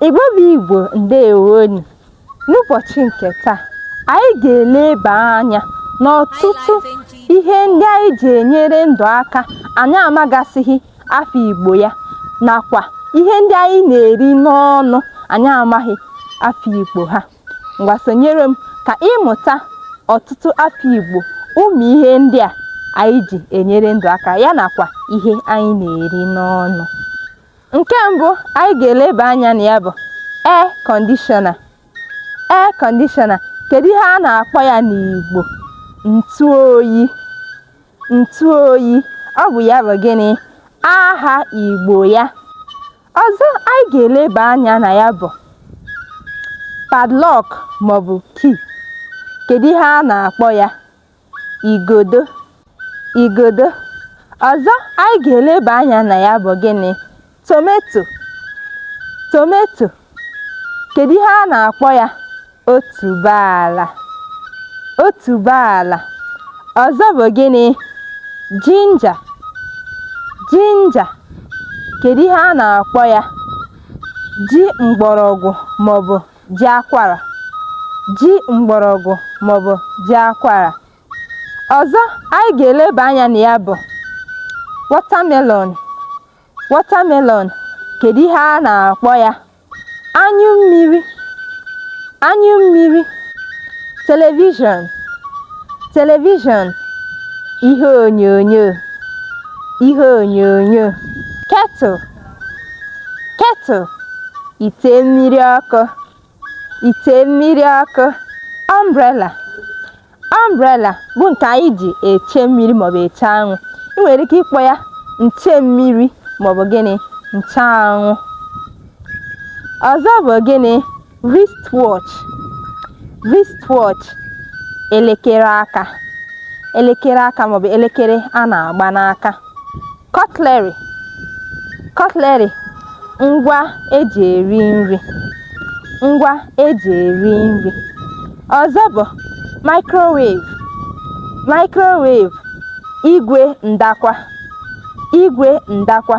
Igbo bụ Igbo ndewonụ n'ụbọchị nke taa anyị ga-eleba anya n'ọtụtụ ihe ndị anyị ji enyere ndụ aka anyị amagasịghị afa Igbo ya nakwa ihe ndị anyị na-eri n'ọnụ anyị amaghị afa Igbo ha ngwa sonyere m ka ị mụta ọtụtụ afa Igbo ụmụ ihe ndị a anyị ji enyere ndụ aka ya nakwa ihe anyị na-eri n'ọnụ nke mbụ anyị ga-eleba anya na ya bụ air conditioner air conditioner kedu ihe a na-akpọ ya n'Igbo ntụ oyi ntụ oyi ọ bụ ya bụ gịnị aha Igbo ya ọzọ anyị ga-eleba anya na ya bụ padlock maọbụ key kedu ihe a na-akpọ ya igodo igodo ọzọ anyị ga-eleba anya na ya bụ gịnị tomato tomato kedu ihe a na-akpọ ya otuboala otuboala ọzọ bụ gịnị ginger ginger kedu ihe a na-akpọ ya ji mgbọrọgwụ maọbụ ji akwara ji mgbọrọgwụ maọbụ ji akwara ọzọ anyị ga-eleba anya na ya bụ watermelon watermelon kedu ihe a na-akpọ ya anyụ mmiri anyụ mmiri television television ihe onyonyo ihe onyonyo kettle kettle ite mmiri ọkụ ite mmiri ọkụ umbrella umbrella bụ nke anyị ji eche mmiri maọbụ eche anwụ ị nwere ike ịkpọ ya nche mmiri maọbụ gịnị nche anwụ ọzọ bụ gịnị wristwatch wristwatch elekere aka elekere aka maọbụ elekere a na-agba n'aka cutlery cutlery ngwa eji eri nri ngwa eji eri nri ọzọ bụ microwave microwave igwe ndakwa igwe ndakwa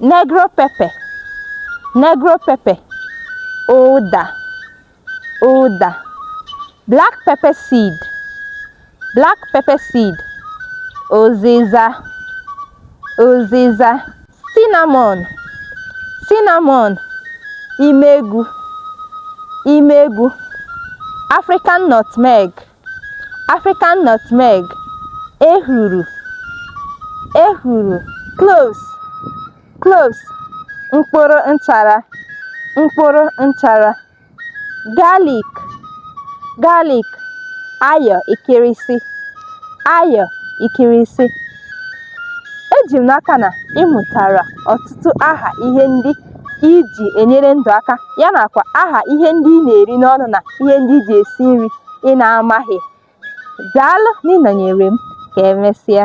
negro pepper negro pepper ụda ụda black pepper seed black pepper seed ụzịza ụzịza cinnamon cinnamon imegwu imegwu african nutmeg African nutmeg, ehuru, ehuru, cloves, cloves, mkpụrụ nchara, mkpụrụ nchara, garlic, garlic, ayọ ikirisi, ayọ ikirisi. Eji m n'aka na ị mụtara ọtụtụ aha ihe ndị i ji enyere ndụ aka ya nakwa aha ihe ndị ị na-eri n'ọnụ na ihe ndị i ji esi nri ị na-amaghị daalụ n'ịnọnyere m ka emesịa